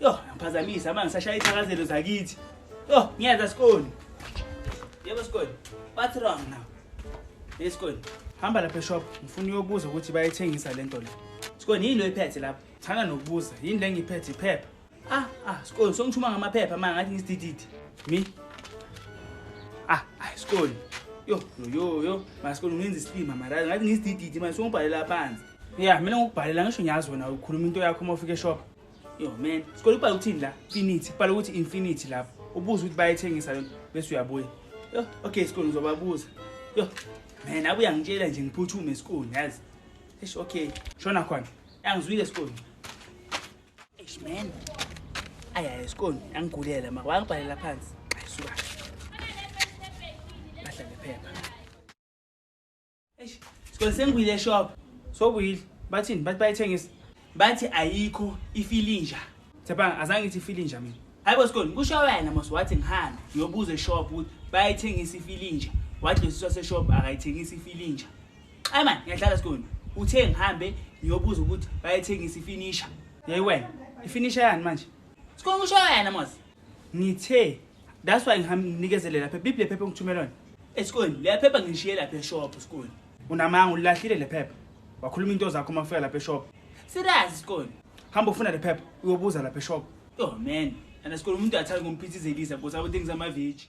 Yo, ngiphazamisa manje sashaya ithakazelo zakithi. Yo, ngiyeza sikoni. Yebo sikoni. What's wrong now? Hey sikoni. Hamba lapha eshop, ngifuna uyobuza ukuthi bayithengisa lento le. Sikoni yini lo iphethe lapha? Thana nokubuza, yini le ngiphethe iphepha? Ah, ah, sikoni songithuma ngamaphepha manje ngathi ngisidididi. Mi? Ah, ah, sikoni. Yo, yo, yo, yo. Masikoni ngenza isilima mara ngathi ngisidididi manje songibhalela phansi. Yeah, mina ngokubhalela ngisho ngiyazi wena ukhuluma into yakho uma ufika eshop. Yo man, sikole ubhala ukuthini la? Infinity, ubhala ukuthi infinity lapho. Ubuza ukuthi bayethengisa lento bese uyabuya. Yo, okay sikole ngizobabuza. Yo. Man, abuya ngitshela nje ngiphuthume esikole, yazi. Eish, okay. Shona khona. Angizwile esikole. Eish man. Aya esikole, angigulela ma. Wangibhalela phansi. Ayisuka. Bahlale phepha. Eish, sikole sengibuyile eshop. Sobuyile. Bathini? Bathi bayithengisa. Bathi ayikho ifilinja. Thapha azange ngithi ifilinja mina. Hayibo sikole, kusho wena mos wathi ngihambe ngiyobuza eshop ukuthi bayithengisa ifilinja. Wathi losiswa seshop akayithengisa ifilinja. Ay man, ngiyadlala sikole. Uthe ngihambe ngiyobuza ukuthi bayithengisa ifinisha. Hey wena, ifinisha yani manje? Sikole kusho wena mos. ngithe that's why ngihamnikezele lapha bibile phepha ngithumela wena esikoleni leyaphepha ngishiye lapha eshop esikoleni unamanga ulilahlile lephepha wakhuluma into zakho uma ufika lapha eshop serious isikoleni hamba ufuna lephepha uyobuza lapha eshop yo man and esikoleni umuntu athanda kumphithizelisa because abo things amaveji